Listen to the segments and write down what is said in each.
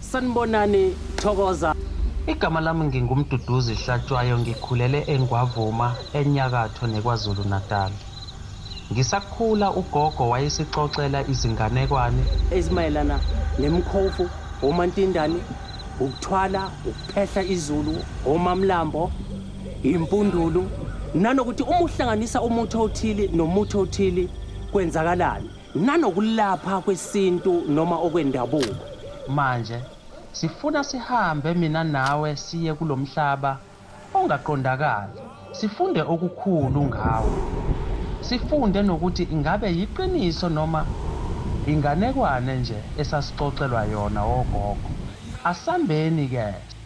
Sanibonani Thokoza. Igama lami nginguMduduzi Hlatshwayo ngikhulele eNgwavuma enyakatho neKwaZulu-Natal. Ngisakhula ugogo wayesixoxela izinganekwane. Ezimayelana nemkhovu, omantindane, ukuthwala, ukuphehla izulu, omamlambo, impundulu nanokuthi uma uhlanganisa umuthi othile nomuthi othile kwenzakalani. nanokulapha kwesintu noma okwendabuko. Manje sifuna sihambe mina nawe siye kulomhlaba ongaqondakali sifunde okukhulu ngawo. Sifunde nokuthi ingabe yiqiniso noma inganekwane nje esasixoxelwa yona ogogo. Asambeni ke.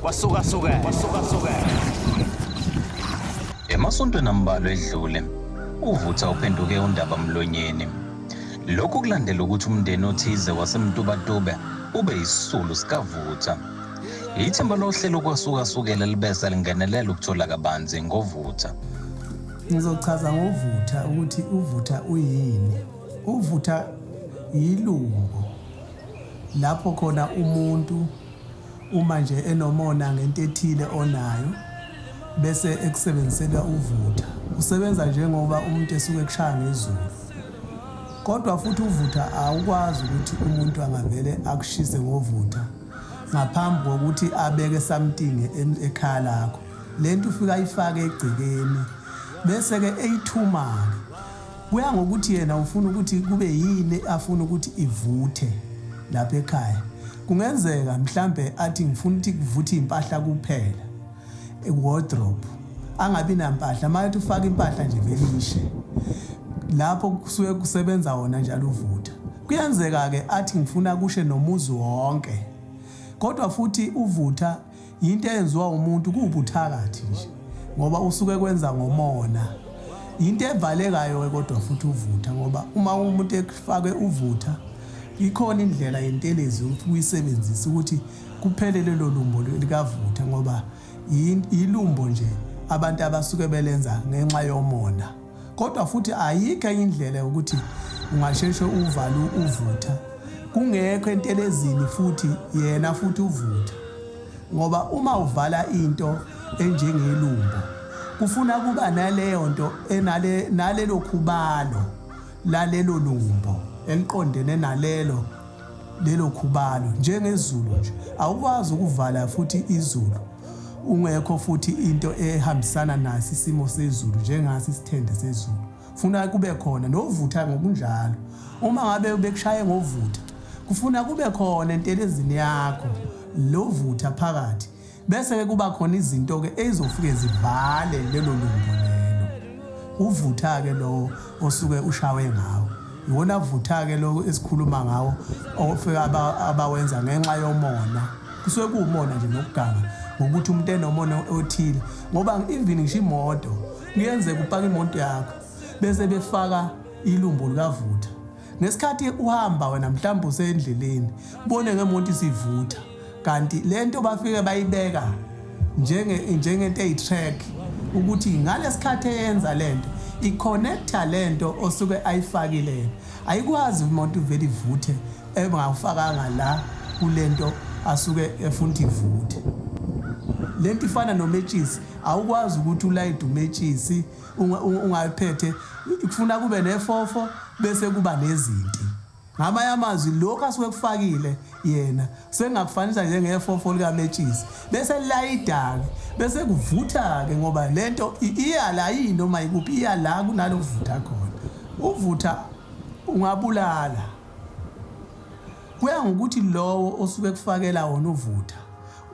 kwasukasuke kwasukasuke emasontweni ambalwa edlule uvutha uphenduke undaba mlonyeni lokhu kulandela ukuthi umndeni othize wasemtubatube ube yisisulu sikavutha yithemba lohlelo kwasukasukela libese lingenelela ukuthola kabanzi ngovutha Ngizochaza ngovutha ukuthi uvutha uyini. Uvutha yilungu lapho khona umuntu uma nje enomona ngento ethile onayo bese ekusebenzisela uvutha. Usebenza njengoba umuntu esuke ekushaya ngezulu. Kodwa futhi uvutha awukwazi ukuthi umuntu angavele akushise ngovutha ngaphambi kokuthi abeke something ekhaya lakho. lento ufika ayifake egcekeni bese ke eyithumake kuya ngokuthi yena ufuna ukuthi kube yini afuna ukuthi ivuthe lapha ekhaya kungenzeka mhlambe athi ngifuna ukuthi kuvuthe impahla kuphela wardrobe angabi nampahla mayethi ufaka impahla nje velishe lapho kusuke kusebenza wona njalo uvutha kuyenzeka ke athi ngifuna kushe nomuzi wonke kodwa futhi uvutha yinto eyenziwa umuntu kuwubuthakathi nje ngoba usuke kwenza ngomona yinto evalekayo-ke kodwa futhi uvutha ngoba uma umuntu efake uvutha ikhona indlela yentelezi ukuyisebenzisa ukuthi kuphele lelo lumbo likavutha ngoba yilumbo nje abantu abasuke belenza ngenxa yomona kodwa futhi ayikho enye indlela yokuthi ungasheshe uvalu uvutha kungekho entelezini futhi yena futhi uvutha ngoba uma uvala into enjengelumbo kufuna kuba naleyo nto enale nalelo khubalo lalelo lumbo eliqondene nalelo lelo khubalo njengezulu nje awukwazi ukuvala futhi izulu ungekho futhi into ehambisana nasi isimo sezulu njengasi isithende sezulu funa kube khona novutha ngokunjalo uma ngabe bekushaye ngovutha kufuna kube khona entelezini yakho lovutha phakathi Bese-ke kuba khona izinto-ke ezofike zivale lelo lumbo lelo. Uvutha-ke lowo osuke ushawe ngawo. Iwona vutha-ke lowo esikhuluma ngawo ofika abawenza ngenxa yomona. Kusuke kuwumona nje nokuganga ngokuthi umuntu enomona othile. Ngoba even ngisho imoto kuyenzeka upaka imoto yakho bese befaka ilumbo likavutha. Ngesikhathi uhamba wena mhlawumbe usendleleni bone ngemonto isivutha kanti le nto bafike bayibeka njengento eyi-track ukuthi ngalesikhathi eyenza le nto i-connecta le nto osuke ayifakile ayikwazi umuntu uvele ivuthe engawufakanga la kule nto asuke efuna ukuthi ivuthe le nto ifana nometshisi awukwazi ukuthi ulayide umetshisi ungayiphethe kufuna kube nefofo bese kuba nezinti ngamanye amazwi lokhu asuke kufakile yena sengakufanisa njengefofo likametshisi bese lilayidake bese kuvutha-ke ngoba le nto iyala yini noma yikuphi iyala kunalo kuvutha khona uvutha ungabulala kuya ngokuthi lowo osuke kufakela wona uvutha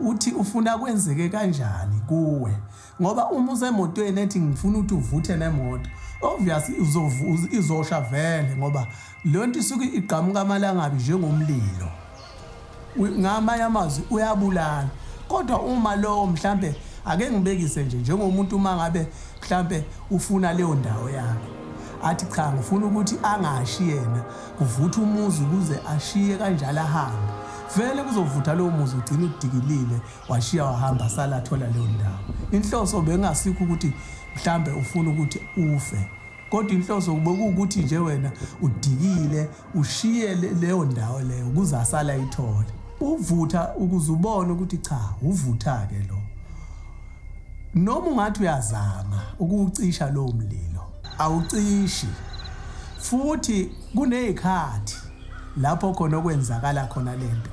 uthi ufuna kwenzeke kanjani kuwe ngoba uma usemotweni ethi ngifuna ukuthi uvuthe nemoto obvious izosha vele ngoba leyo nto isuke igqamuka amalangabi njengomlilo ngamanye amazwi uyabulala kodwa uma lowo mhlampe ake ngibekise nje njengomuntu uma ngabe mhlampe ufuna leyo ndawo yakhe athi cha ngifuna ukuthi angashi yena kuvutha umuzi ukuze ashiye kanjalo ahambe vele kuzovutha lowo muzi ugcina udikilile Washiya wahamba asala athola leyo ndawo. Inhloso bengasikho ukuthi mhlambe ufuna ukuthi ufe. Kodwa inhloso bekuwukuthi nje wena udikile ushiye leyo ndawo leyo ukuze asala ithole. Uvutha ukuze ubone ukuthi cha uvutha ke lo. Noma ungathi uyazama ukuwucisha lowo mlilo awucishi. Futhi kunezikhathi lapho khona okwenzakala khona lento.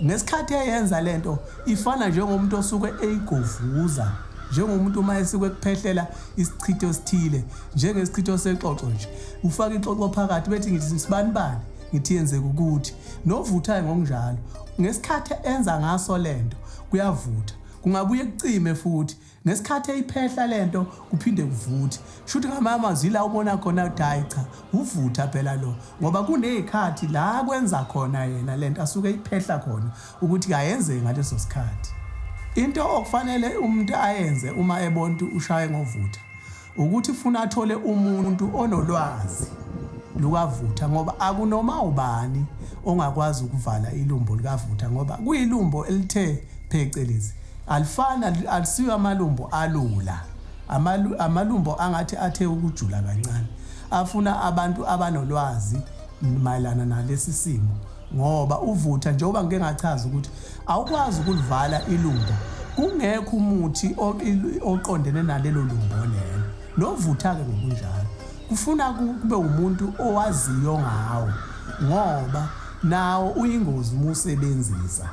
Ngesikhathi eyenza lento ifana njengomuntu osuke eyigovuza njengomuntu uma esuke kuphehlela isichitho esithile njengesichitho sexoxo nje ufaka ixoxo phakathi bethi ngithi sibani bani ngithi yenzeka ukuthi novuthayo ngokunjalo ngesikhathi enza ngaso lento kuyavutha kungabuye kucime futhi Ngesikhathi eyiphehla lento kuphinde kuvuthe. Shuthi ngamanye amazwi ila ubona khona ukuthi hhayi cha wuvutha phela lo ngoba kunezikhathi la kwenza khona yena lento asuke eyiphehla khona ukuthi kayenzeki ngaleso sikhathi. Into okufanele umuntu ayenze uma ebona ukuthi ushaye ngovutha ukuthi funa athole umuntu onolwazi lukavutha ngoba akunoma ubani ongakwazi ukuvala ilumbo likavutha ngoba kuyilumbo elithe phecelezi alifani alisiyo amalumbo alula amalumbo angathi athe ukujula kancane afuna abantu abanolwazi mayelana nalesi simo ngoba uvutha njengoba ngike ngachaza ukuthi awukwazi ukulivala ilumbo kungekho umuthi oqondene nalelo lumbo lelo novutha-ke ngokunjalo kufuna kube umuntu owaziyo ngawo ngoba nawo uyingozi uma usebenzisa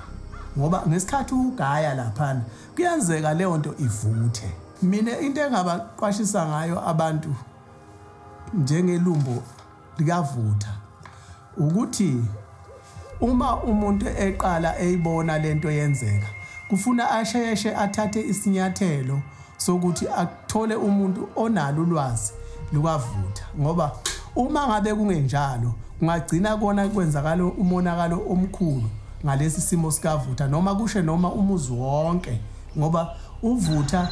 ngoba ngesikhathi ugaya laphana kuyenzeka leyo nto ivuthe mina into engabaqwashisa ngayo abantu njengelumbo likavutha ukuthi uma umuntu eqala eyibona lento yenzeka kufuna asheshe athathe isinyathelo sokuthi athole umuntu onalo ulwazi lukavutha ngoba uma ngabe kungenjalo kungagcina kona kwenzakala umonakalo omkhulu ngalesi simo sikavutha noma kushe noma umuzi wonke ngoba uvutha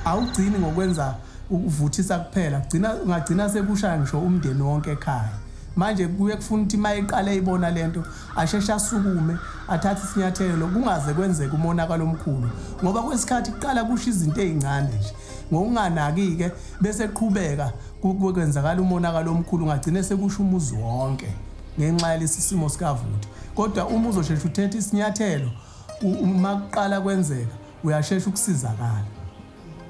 awugcini ngokwenza ukuvuthisa kuphela kugcina ungagcina sekushaya ngisho umndeni wonke ekhaya manje kuye kufuna ukuthi uma eqale ibona lento asheshe asukume athathe isinyathelo kungaze kwenzeke umonakalo omkhulu ngoba kwesikhathi kuqala kusho izinto ezincane nje ngokunganaki-ke bese qhubeka kwenzakala umonakalo omkhulu ungagcine sekusho umuzi wonke ngenxa yalesi simo sikavuti kodwa uma uzosheshe uthethe isinyathelo uma kuqala kwenzeka uyashesha ukusizakala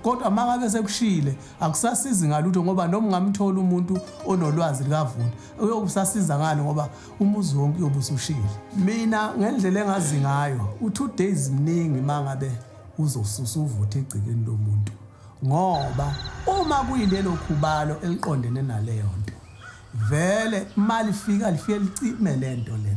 kodwa mangabe sekushile akusasizi ngalutho ngoba noma ungamthola umuntu onolwazi likavuni uyokusasiza ngani ngoba umuzi wonke uyobe usushile mina ngendlela engazi ngayo u-two days mningi mangabe uzosusa uvuthe egcikeni lomuntu ngoba uma kuyilelo khubalo eliqondene naleyo nto Vele malifika lifike licime lento le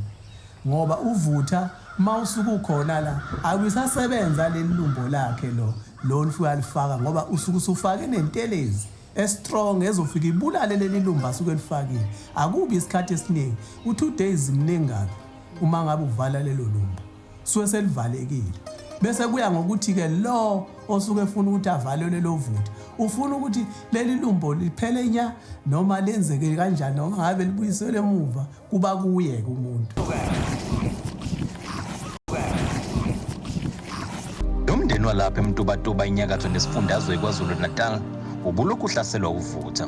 ngoba uvutha mawusuke ukhona la akusasebenza lelilumbo lakhe lo lo lifika lifaka ngoba usuke usufake nentelezi estrong ezofika ibulale lelilumba asuke lifakile akubi isikhathi esiningi u2 days mningi kabi uma ngabe uvala lelo lumba suke selivalekile bese kuya ngokuthi ke lo osuke efuna ukuthi avalelwe lo voti ufuna ukuthi leli lumbo liphele nya noma lenzeke kanjani noma ngabe libuyisele emuva kuba kuye ke umuntu Umndeni walapha eMtubatuba inyakatho nesifundazwe iKwaZulu Natal ubulokhu uhlaselwa uvutha.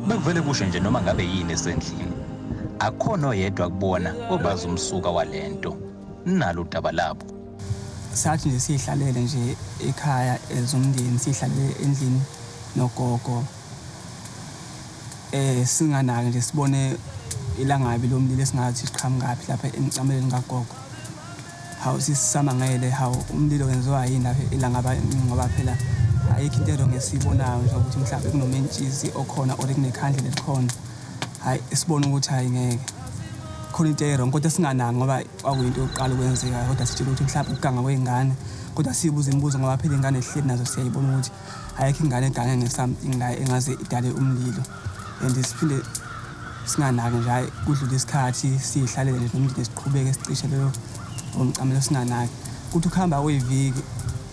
Bekuvele kusho nje noma ngabe yini esendlini. Akhona oyedwa kubona obazi umsuka walento. nalo daba labo sathi nje siyihlalele nje ekhaya ezomndeni siyihlalele endlini nogogo eh singanaki nje sibone ilangabi lomlilo esingathi siqhamukaphi lapha emcameleni kagogo hawu sisamangele hawu umlilo wenziwa yini lapha ilangaba ngoba phela ayikho into ero ngesiyibonayo nje ukuthi mhlawumbe kunomentshisi okhona or kunekhandlela elikhona hhayi sibone ukuthi hhayi ngeke khona into erong kodwa singanaki ngoba kwakuyinto yokuqala ukwenzeka kodwa sitshela ukuthi mhlawumbe ukuganga kwey'ngane kodwa siyibuza imibuzo ngoba phela iy'ngane ehleli nazo siyayibona ukuthi ayekho ingane egange nge-something la engaze idale umlilo and siphinde singanaki nje hhayi kudlula isikhathi siyihlalele nje nomndeni siqhubeke sicishe leyo ngomcamelo singanaki kuthi ukuhamba kwey'viki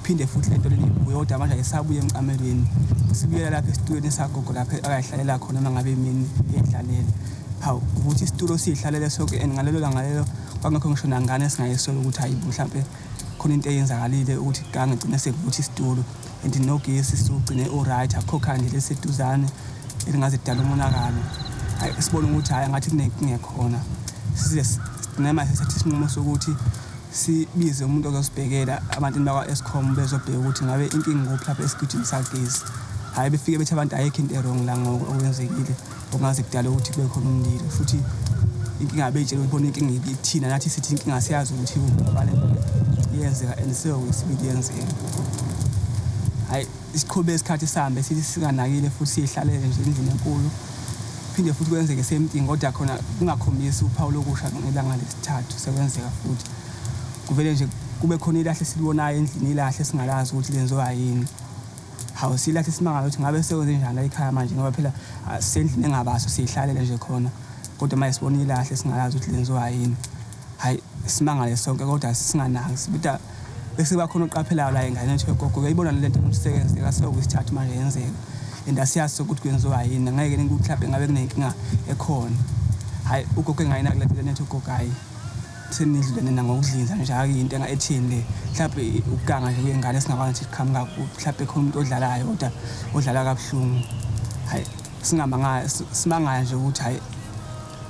Phinde futhi lento leli uyodwa manje ayisabuye emcamelweni. Sibuyela lapha esitulweni sagogo lapha akayihlalela khona noma ngabe imini edlalela. Hawu ukuthi isitulo sihlalele sonke and ngalelo langa lelo kwangekho ngisho nangane esingayisolo ukuthi hayi mhlampe khona into eyenzakalile ukuthi gange igcine sekuvuthi isitulo and nogesi sugcine uright akho khandi leseduzane elingaze dala umonakalo. Hayi sibona ukuthi hayi ngathi kunenkinga khona. Size sinema sethi sinqumo sokuthi Sibize umuntu ozosibhekela abantu bakwa-Eskom bezobheka ukuthi ngabe inkinga ikuphi lapha esigijini sagezi. Hhayi befike bethi abantu ayikho into erong la ngoku okwenzekile okungaze kudale ukuthi kube khona umlilo futhi inkinga beyitshela ukuthi bona inkinga ithina nathi sithi inkinga siyazi ukuthi ubale iyenzeka and seyokwesibili yenzeka hhayi Siqhube isikhathi sihambe sithi singanakile futhi siyihlalele nje endlini enkulu. Phinde futhi kwenzeke same thing kodwa khona kungakhombisi uphawu lokusha ngelanga lesithathu sekwenzeka futhi. Kuvele nje kube khona ilahle esilibonayo endlini ilahle esingalazi ukuthi lenziwa yini. Hawu silahle simangala ukuthi ngabe sekwenze njani la ekhaya manje ngoba phela ah, sendlini engabaso siyihlalele nje khona. Kodwa manje sibona ilahle singalazi ukuthi lenziwa yini. Hayi simangale sonke kodwa singanaki. Sibita Bese kuba khona oqaphelayo la engane nje gogo uyayibona le nto ukuthi sekenzeka sewukwisithathu manje yenzeka and asiyazi sokuthi kwenziwa yini ngeke ningikuhlaphe ngabe kunenkinga ekhona hhayi ugogo engayina kule nto nethi ugogo hhayi senidlule nina ngokudlinza nje akuyinto ethini le mhlawumbe ukuganga nje kwengane singakwazi ukuthi kuqhamuka mhlawumbe khona umuntu odlalayo kodwa odlala kabuhlungu hhayi singamangala simangala nje ukuthi hhayi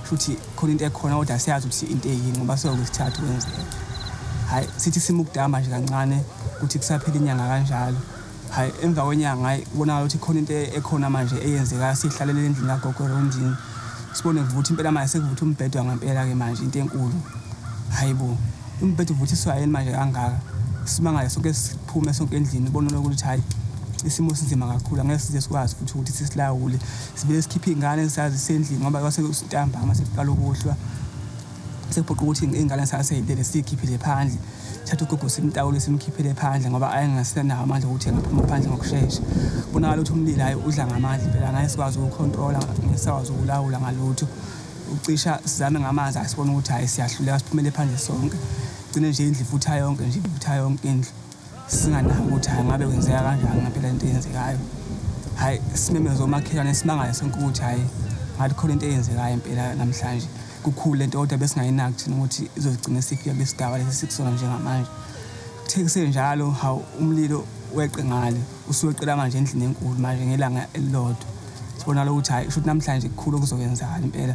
Futhi khona into ekhona kodwa siyazi ukuthi into eyini ngoba soke sithatha kwenzeka. Hayi sithi sima ukudama nje kancane ukuthi kusaphela inyanga kanjalo. Hayi emva kwenyanga hayi kubonakala ukuthi khona into ekhona manje eyenzekayo sihlalele endlini kagogo Rondini. Sibone kuvutha impela manje sekuvutha umbhedo ngampela ke manje into enkulu. Hayi bo. Umbhedo uvuthiswa yini manje kangaka? Simangale sonke siphume sonke endlini bonona ukuthi hayi isimo sinzima kakhulu angeke size sikwazi futhi ukuthi sisilawule. Sibe sikhipha iy'ngane sazi sendlini ngoba kwase ntambama sekuqala ukuhlwa sekuphoqa ukuthi iy'ngane sasey'lele siy'khiphile phandle thatha ugogo simtawule simkhiphele phandle ngoba ayengasenawo amandla okuthi angaphuma phandle ngokushesha bonakala ukuthi umlilo hayi udla ngamandla impela ngeke sikwazi ukukhontrola ngeke sikwazi ukulawula ngalutho ucisha sizame ngamanzi asibona ukuthi hayi siyahluleka siphumele phandle sonke gcine nje indlu ifutha yonke nje ifutha yonke indlu singanaki ukuthi hayi ngabe kwenzeka kanjani ngampela into eyenzekayo hayi simemeza omakhelwane simangale sonke ukuthi hayi ngathi khona into eyenzekayo impela namhlanje kukhulu lento kodwa besingayinaki thina ukuthi izogcina sifika besidaba lesi sikusona njengamanje kuthe kusenjalo hawu umlilo weqe ngale usuweqela manje endlini enkulu manje ngelanga elilodwa sibona lokuthi hayi shuthi namhlanje kukhulu okuzokwenzakala impela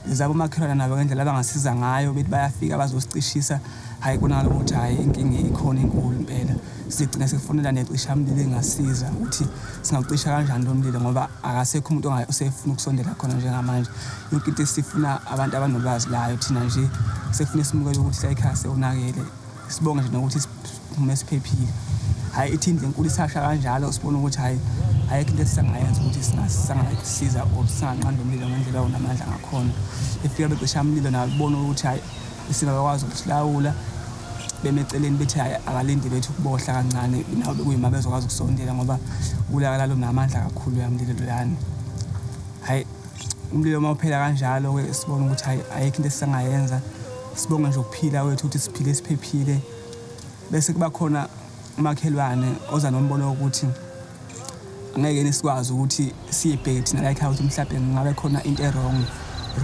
Ngizaba umakhelwane nabo ngendlela abangasiza ngayo bethi bayafika bazosicishisa hhayi konakala ukuthi hhayi inkinga ikhona inkulu impela sigcine sekufonela necishamlilo engasiza ukuthi singawucisha kanjani lo mlilo ngoba akasekho umuntu osefuna ukusondela khona njengamanje yonke into esifuna abantu abanolwazi layo thina nje sefuna simukele ukuthi layikhaya sewonakele Sibonge nje nokuthi siphume siphephile. Hhayi ithi indlu enkulu isasha kanjalo sibona ukuthi hhayi ayikho into esisangayenza ukuthi singasiza or singanqanda umlilo ngendlela onamandla ngakhona. Befika becisha umlilo nawo bebona ukuthi hhayi singakakwazi ukusilawula beme eceleni bethi hhayi akalinde bethu ukubohla kancane nawo bekuyima bezokwazi ukusondela ngoba kulakala lunamandla kakhulu yamlilo lolani hhayi umlilo uma uphela kanjalo-ke sibona ukuthi hhayi ayikho into esisangayenza Sibonga nje ukuphila wethu ukuthi siphile siphephile bese kuba khona umakhelwane oza nombono wokuthi angeke nisikwazi ukuthi siyibheke thina la ekhaya ukuthi mhlawumbe ngabe khona into erong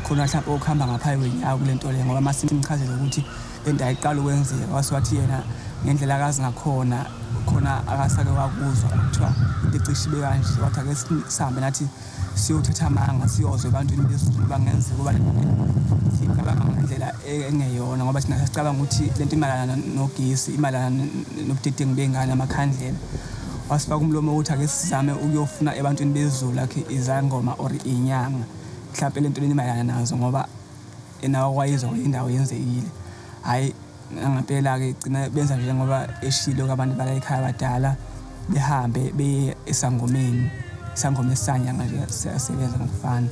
khona mhlawumbe okuhamba ngaphayi kwenyawo kule nto le ngoba uma simchazele ukuthi le nto ayiqala ukwenzeka wase wathi yena ngendlela akazi ngakhona khona akasake wakuzwa kuthiwa into ecishe ibe kanje wathi ake sihambe nathi siyothatha amanga siyozwa ebantwini bezulu bangenzeka ukuba sicabanga ngendlela engeyona ngoba thina sasicabanga ukuthi le nto imalana nogesi imalana nobudedengu bey'ngane amakhandlela wasifaka umlomo ukuthi ake sizame ukuyofuna ebantwini bezulu akhe izangoma or inyanga mhlawumpe le nto lenimayelana nazo ngoba Yena wakwayizwa kwenye indawo yenzekile. Hhayi ngangempela-ke igcina benza nje njengoba eshilo abantu bala ekhaya abadala behambe beye esangomeni. Isangoma esisanyanga nje siyasebenza ngokufana.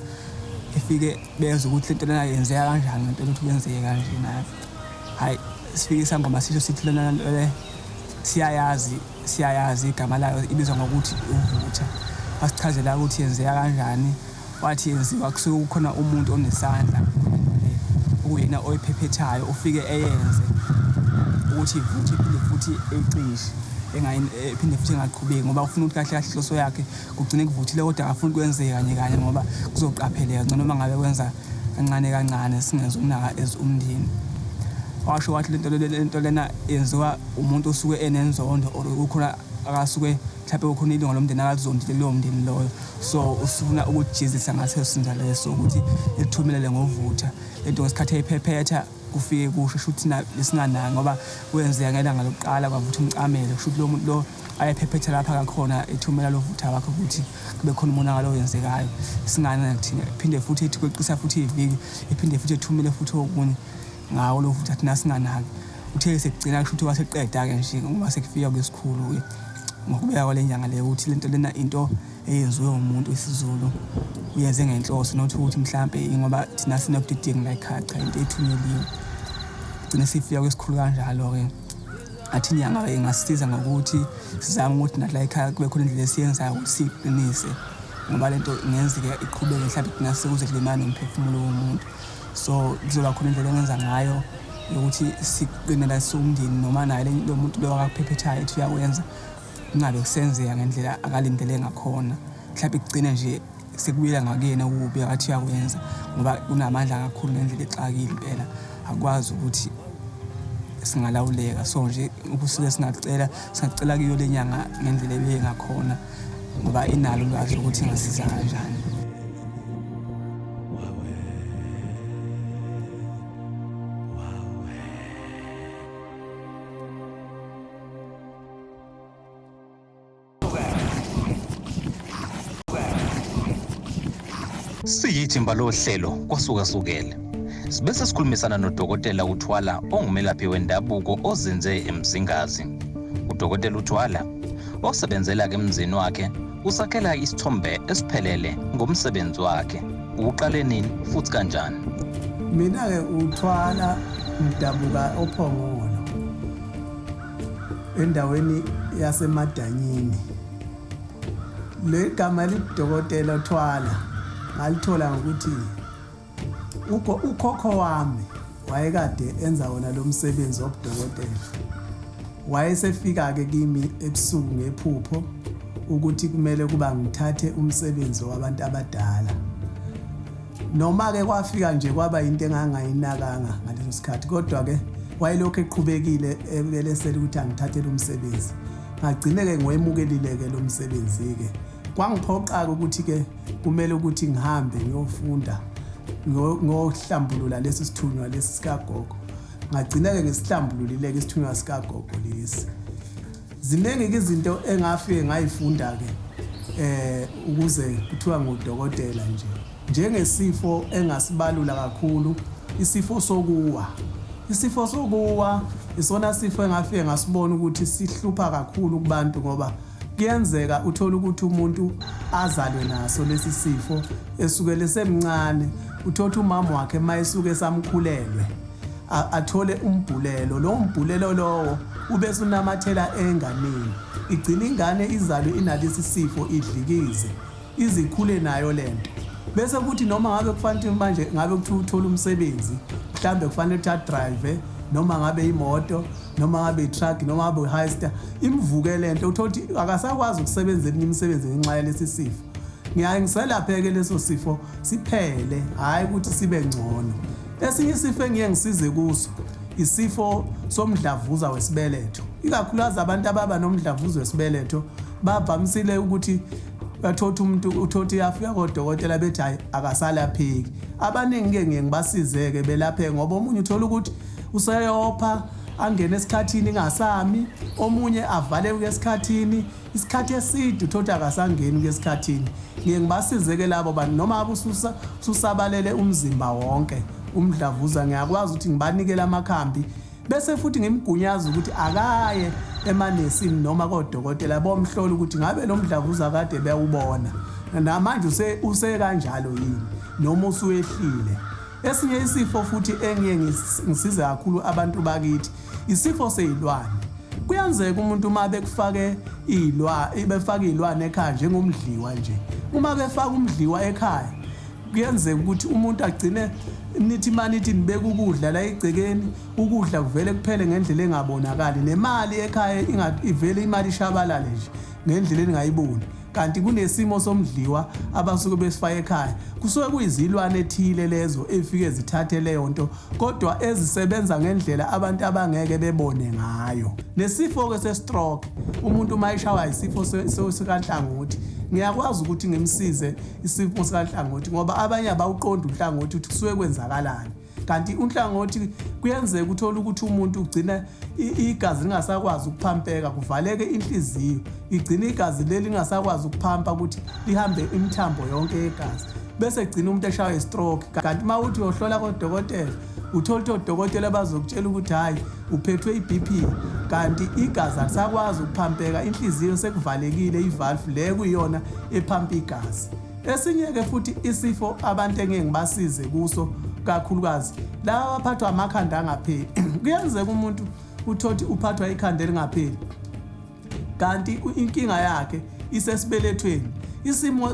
Efike bezwa ukuthi lento lena yenzeka kanjani ngempela ukuthi kwenzeke kanje nayo. Hhayi sifike isangoma sisho sithi lona le siyayazi Siyayazi igama layo ibizwa ngokuthi uvutha. Wasichazela ukuthi yenzeka kanjani, wathi yenziwa kusuke kukhona umuntu onesandla okuyena oyiphephethayo ufike eyenze ukuthi futhi iphinde futhi ecishe engaphinde futhi engaqhubeki ngoba ufuna ukuthi kahle kahle inhloso yakhe Kugcine kuvuthile kodwa akafuni kwenzeke kanye kanye ngoba kuzoqapheleka ngcono uma ngabe kwenza kancane kancane singenzi ukunaka as umndeni washo wathi lento lento lena yenziwa umuntu osuke enenzondo or kukhona akasuke mhlawumbe kukhona ilunga lomndeni akalizondile leyo mndeni loyo so usifuna ukujezisa ngaseso sinjalo leso ukuthi ekuthumelele ngovutha lento ngesikhathi eyiphephetha kufike kusho shuthi lesingananga ngoba kwenzeka ngelanga lokuqala kwavutha umcamelo kushuthi lo muntu lo ayephephetha lapha kakhona ethumela lo vutha wakhe ukuthi kube khona umonakalo owenzekayo singana thina phinde futhi ethi kweqisa futhi iviki ephinde futhi ethumele futhi okunye ngawo lo vutha thina singanaki uthe sekugcina kushuthi waseqeda-ke nje ngoba sekufika kwesikhulu-ke ngokubeka kwale nyanga leyo ukuthi lento lena into eyenziwe umuntu wesiZulu uyenze ngenhloso not ukuthi mhlampe ingoba thina sinokudidinga la ekhaya cha into ethunyeliwe gcine sifika kwesikhulu kanjalo-ke athi inyanga ingasisiza ngokuthi sizame ukuthi nathi la ekhaya kube khona indlela esiyenzayo ukuthi siyiqinise ngoba le nto ingenzeke iqhubeke mhlawumbe kugcina sekuze kulimane umphefumulo womuntu so kuzoba khona indlela engenza ngayo yokuthi siqinela siwumndeni noma naye lo muntu loyo akaphephethayo ethi uyakwenza kungabe kusenzeka ngendlela akalindele ngakhona mhlawumbe kugcine nje sekubuyela ngakuyena ukubi akathi uyakwenza ngoba unamandla kakhulu ngendlela exakile impela akwazi ukuthi singalawuleka so nje ukusuke singacela singacela kuyo le nyanga ngendlela ebeye ngakhona ngoba inalo ulwazi lokuthi ingasiza kanjani Siyithimba lohlelo kwasukasukele. Sibe sesikhulumisana nodokotela uThwala ongumelaphi wendabuko ozinze eMzingazi. Udokotela uThwala osebenzela ke emzini wakhe usakhela isithombe esiphelele ngomsebenzi wakhe. Uqale nini futhi kanjani? Mina-ke uThwala ngidabuka oPhongolo. endaweni yasemadanyini le gama lidokotela uthwala ngalithola ngokuthi ukhokho wami wayekade enza wona lo msebenzi wobudokotela wayesefika-ke kimi ebusuku ngephupho ukuthi kumele kuba ngithathe umsebenzi wabantu abadala Noma-ke kwafika nje kwaba into engangayinakanga ngaleso sikhathi kodwa-ke wayelokhu eqhubekile ebelesela ukuthi angithathele umsebenzi ngagcine-ke ngiwemukelile-ke lo msebenzi-ke kwangiphoqa-ke ukuthi-ke kumele ukuthi ngihambe ngiyofunda ngohlambulula lesi sithunywa lesi sikagogo ngagcina-ke ngisihlambululile-ke isithunywa sikagogo lesi Ziningi-ke izinto engafike ngayifunda-ke um ukuze kuthiwa ngudokotela nje. Njengesifo engasibalula kakhulu, isifo sokuwa. Isifo sokuwa isona sifo engafike ngasibona ukuthi sihlupha kakhulu kubantu ngoba kuyenzeka uthole ukuthi umuntu azalwe naso lesi sifo esukele semncane uthotha umama wakhe uma esuke esamkhulelwe athole umbhulelo lowo mbhulelo lowo ubese unamathela enganeni igcina ingane izalwe inalesi sifo idlikize izikhule nayo lento bese kuthi noma ngabe kufanele manje ngabe kuthi uthola umsebenzi mhlambe kufanele ukuthi adrive noma ngabe imoto noma ngabe itruck noma ngabe uhighster imvuke lento uthola ukuthi akasakwazi ukusebenza eminye imisebenzi ngenxa yalesi sifo ngiyaye ngiselapheke leso sifo siphele hhayi ukuthi sibe ngcono Esinye isifo engiye ngisize kuso isifo somdlavuza wesibeletho ikakhulukazi abantu ababa nomdlavuza wesibeletho bavamisile ukuthi bathothi umuntu uthothi yafika kodokotela bethi hayi akasalapheki abaningi ke ngiye ngibasizeke belaphe ngoba omunye uthola ukuthi useyopha angene esikhathini ingasami omunye avaleke esikhathini isikhathi eside uthotha akasangeni kuyesikhathini ngiye ngibasizeke labo bantu noma abususa susabalele umzimba wonke umdlavuza ngiyakwazi ukuthi ngibanikele amakhambi bese futhi ngimgunyaza ukuthi akaye emanesini noma kodokotela bomhlola ukuthi ngabe lo mdlavuza kade bewubona namanje use use kanjalo yini noma usuyehlile Esinye isifo futhi engiye ngisize kakhulu abantu bakithi isifo seyilwane. Kuyenzeka umuntu uma bekufake iy'lwa befake iy'lwane ekhaya njengomdliwa nje uma befaka umdliwa ekhaya kuyenzeka ukuthi umuntu agcine nithi manithi nibeka ukudla la egcekeni ukudla kuvele kuphele ngendlela engabonakali nemali ekhaya ivele imali ishabalale nje ngendlela eningayiboni kanti kunesimo somdliwa abasuke besifaka ekhaya kusuke kuyizilwane ethile lezo efike zithathe leyo nto kodwa ezisebenza ngendlela abantu abangeke bebone ngayo nesifo-ke se-stroke umuntu uma eshawa isifo sikanhlangothi ngiyakwazi ukuthi ngimsize isifo sikanhlangothi ngoba abanye abawuqondi unhlangothi ukuthi kusuke kwenzakalani kanti unhlangothi kuyenzeka uthole ukuthi umuntu ugcina igazi lingasakwazi ukuphampeka kuvaleke inhliziyo igcina igazi leli lingasakwazi ukuphampa ukuthi lihambe imithambo yonke yegazi bese gcina umuntu eshawa istroke kanti uma uthi uyohlola kodokotela uthole ukuthi odokotela bazokutshela ukuthi hhayi uphethwe i-bp kanti igazi alisakwazi ukuphampeka inhliziyo sekuvalekile ivalve le kuyiyona ephampa igazi Esinye-ke futhi isifo abantu engeke ngibasize kuso kakhulukazi laba abaphathwa amakhanda angapheli kuyenzeka umuntu uthothi uphathwa ikhanda elingapheli kanti inkinga yakhe isesibelethweni isimo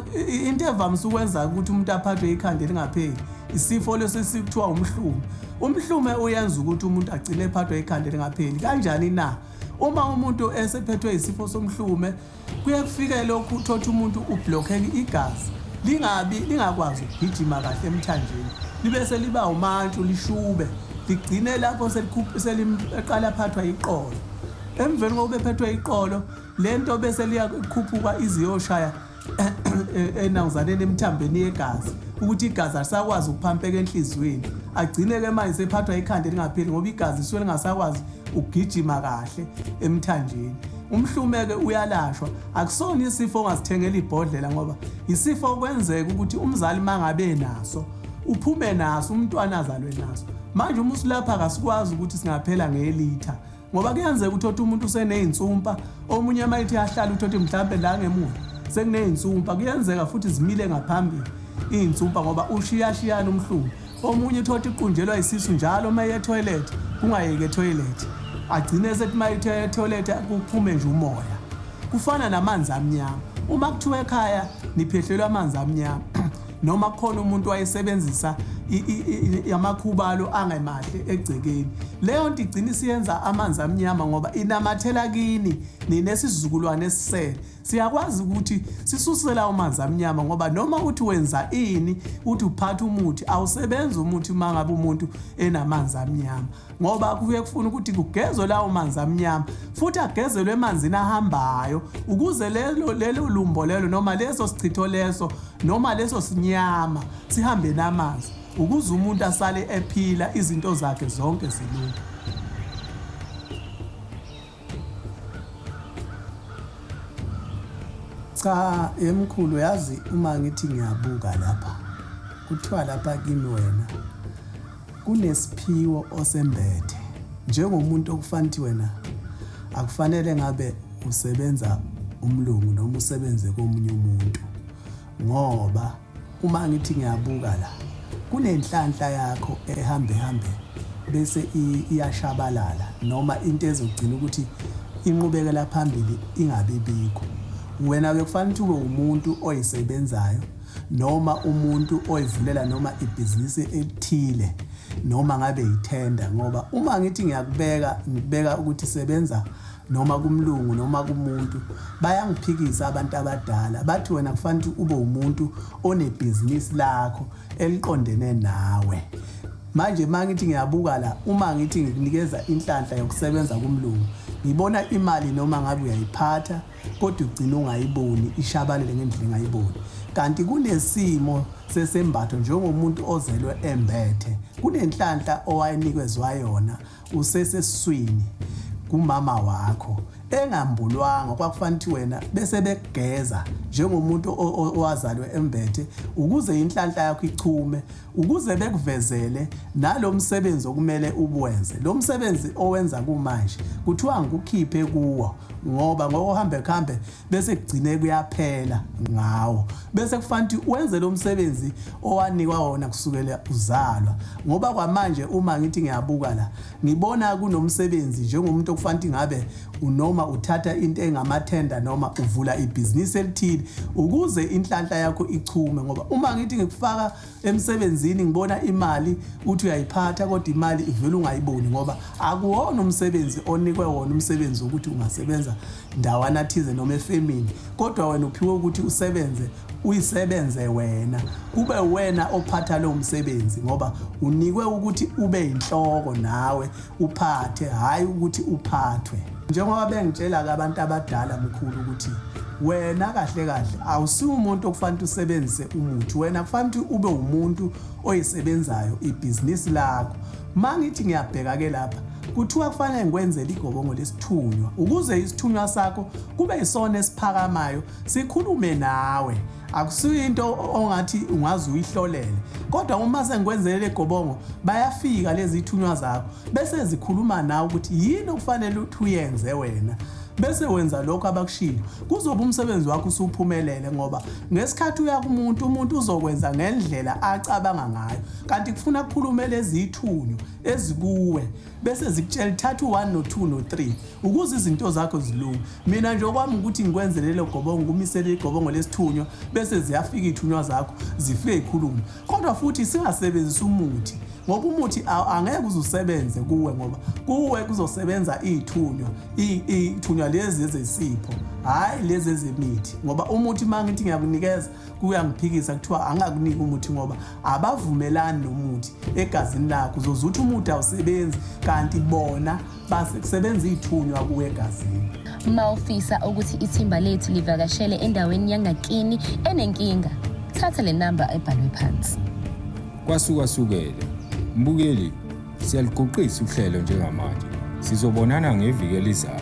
into evamise ukwenza ukuthi umuntu aphathwe ikhanda elingapheli isifo lesi sikuthiwa umhlume umhlume uyenza ukuthi umuntu agcine ephathwe ikhanda elingapheli kanjani na uma umuntu esephethwe isifo somhlume kuye kufike lokhu uthothi umuntu ublokheke igazi lingabi lingakwazi ukugijima kahle emthanjeni libe seliba umantshu lishube ligcine lapho seliqala aphathwa iqolo emveni kokuba ephethwe iqolo le nto bese liyakhuphuka iziyoshaya enawuzaneni emthambeni yegazi ukuthi igazi alisakwazi ukuphampeka enhliziyweni agcine-ke manje sephathwa ikhanda elingapheli ngoba igazi lisuke lingasakwazi ukugijima kahle emthanjeni Umhlume-ke uyalashwa, akusona isifo ongazithengela ibhodlela ngoba yisifo okwenzeka ukuthi umzali uma ngabe naso uphume naso umntwana azalwe naso. Manje uma usilapha kasikwazi ukuthi singaphela ngelitha ngoba kuyenzeka ukuthi othi umuntu useney'nsumpa omunye uma ithi ahlale uthi othi mhlawumbe la ngemuva sekuney'nsumpa kuyenzeka futhi zimile ngaphambili iy'nsumpa ngoba ushiyashiyana umhlume omunye uthotha iqunjelwa isisu njalo uma iye toilet kungayeke toilet agcine esethi uma ithe toilet kuphume nje umoya kufana namanzi amnyama uma kuthiwa ekhaya niphehlelwa amanzi amnyama noma kukhona umuntu wayesebenzisa yamakhubalo angemahle egcekeni leyo nto igcina isiyenza amanzi amnyama ngoba inamathela kini ninesizukulwane esisele Siyakwazi ukuthi sisuse lawo manzi amnyama ngoba noma uthi wenza ini, uthi uphatha umuthi, awusebenzi umuthi uma ngabe umuntu enamanzi amnyama ngoba kuye kufuna ukuthi kugezwe lawo manzi amnyama futhi agezelwe emanzini ahambayo ukuze lelo lelo lumbo lelo noma leso sichitho leso noma leso sinyama sihambe namanzi ukuze umuntu asale ephila izinto zakhe zonke zilunge. Cha yemkhulu yazi uma ngithi ngiyabuka lapha kuthiwa lapha kimi wena kunesiphiwo osembethe njengomuntu okufanele wena akufanele ngabe usebenza umlungu noma usebenze komunye umuntu ngoba Uma ngithi ngiyabuka la kunenhlanhla yakho ehamba ehambe bese iyashabalala noma into ezogcina ukuthi inqubekela phambili ingabi bikho wena ke kufanele ukuthi ube umuntu oyisebenzayo noma umuntu oyivulela noma ibhizinisi elithile noma ngabe yithenda ngoba uma ngithi ngiyakubeka ngibeka ukuthi sebenza noma kumlungu noma kumuntu bayangiphikisa abantu abadala bathi wena kufanele ukuthi ube umuntu onebhizinisi lakho eliqondene nawe manje uma ngithi ngiyabuka la uma ngithi ngikunikeza inhlanhla yokusebenza kumlungu ngibona imali noma ngabe uyayiphatha kodwa ugcina ungayiboni ishabalele ngendlela engayiboni kanti kunesimo sesembatho njengomuntu ozelwe embethe kunenhlanhla owayenikezwa yona useseswini kumama wakho engambulwanga kwakufanele ukuthi wena bese bekugeza njengomuntu owazalwe embethe ukuze inhlanhla yakho ichume ukuze bekuvezele nalomsebenzi okumele ubuwenze lo msebenzi owenza kumanje kuthiwa ngikukhiphe kuwo ngoba ngokuhambe kuhambe bese kugcine kuyaphela ngawo bese kufanele ukuthi wenze lo msebenzi owanikwa wona kusukela uzalwa ngoba kwamanje uma ngithi ngiyabuka la ngibona kunomsebenzi njengomuntu okufanele ngabe unoma uthatha into engamathenda noma uvula ibhizinisi elithile ukuze inhlanhla yakho ichume ngoba uma ngithi ngikufaka emsebenzini ngibona imali uthi uyayiphatha kodwa imali ivele ungayiboni ngoba akuwona umsebenzi onikwe wona umsebenzi wokuthi ungasebenza ndawana thize noma efemini kodwa wena uphiwe ukuthi usebenze uyisebenze wena kube wena ophatha lowo msebenzi ngoba unikwe ukuthi ube yinhloko nawe uphathe hhayi ukuthi uphathwe njengoba bengitshela-ke abantu abadala mkhulu ukuthi wena kahle kahle awusiwumuntu okufanele usebenzise umuthi wena kufanele ukuthi ube umuntu oyisebenzayo ibhizinisi lakho ma ngithi ngiyabheka-ke lapha kuthiwa kufanele ngikwenzele igobongo lesithunywa ukuze isithunywa sakho kube yisona esiphakamayo sikhulume nawe akusuye into ongathi ungaze uyihlolele kodwa uma sengikwenzelele gobongo bayafika lezi thunywa zakho bese zikhuluma nawe ukuthi yini okufanele ukuthi uyenze wena bese wenza lokho abakushilo kuzoba umsebenzi wakho usuphumelele ngoba ngesikhathi uya kumuntu umuntu uzokwenza ngendlela acabanga ngayo kanti kufuna kukhulume lezithunywa ezikuwe bese zikutshela thatha u-1 no-2 no-3 ukuze izinto zakho zilunge mina nje okwami ukuthi ngikwenze lelo gobongo kumisele igobongo lesithunywa bese ziyafika iy'thunywa zakho zifike y'khulume kodwa futhi singasebenzisa umuthi ngoba umuthi angeke uze usebenze kuwe ngoba kuwe kuzosebenza iy'thunywa iy'thunywa lezi ezesipho hhayi lezi ezemithi ngoba umuthi uma ngithi ngiyakunikeza kuyangiphikisa kuthiwa angakuniki umuthi ngoba abavumelani nomuthi egazini lakho uzoze uthi umuthi awusebenzi kanti bona basebenza iy'thunywa kuwe egazini uma ufisa ukuthi ithimba lethu livakashele endaweni yangakini enenkinga thatha le namba ebhalwe phansi kwasukwasukele mbukeli siyaluguqisa uhlelo njengamanje sizobonana ngeviki elizayo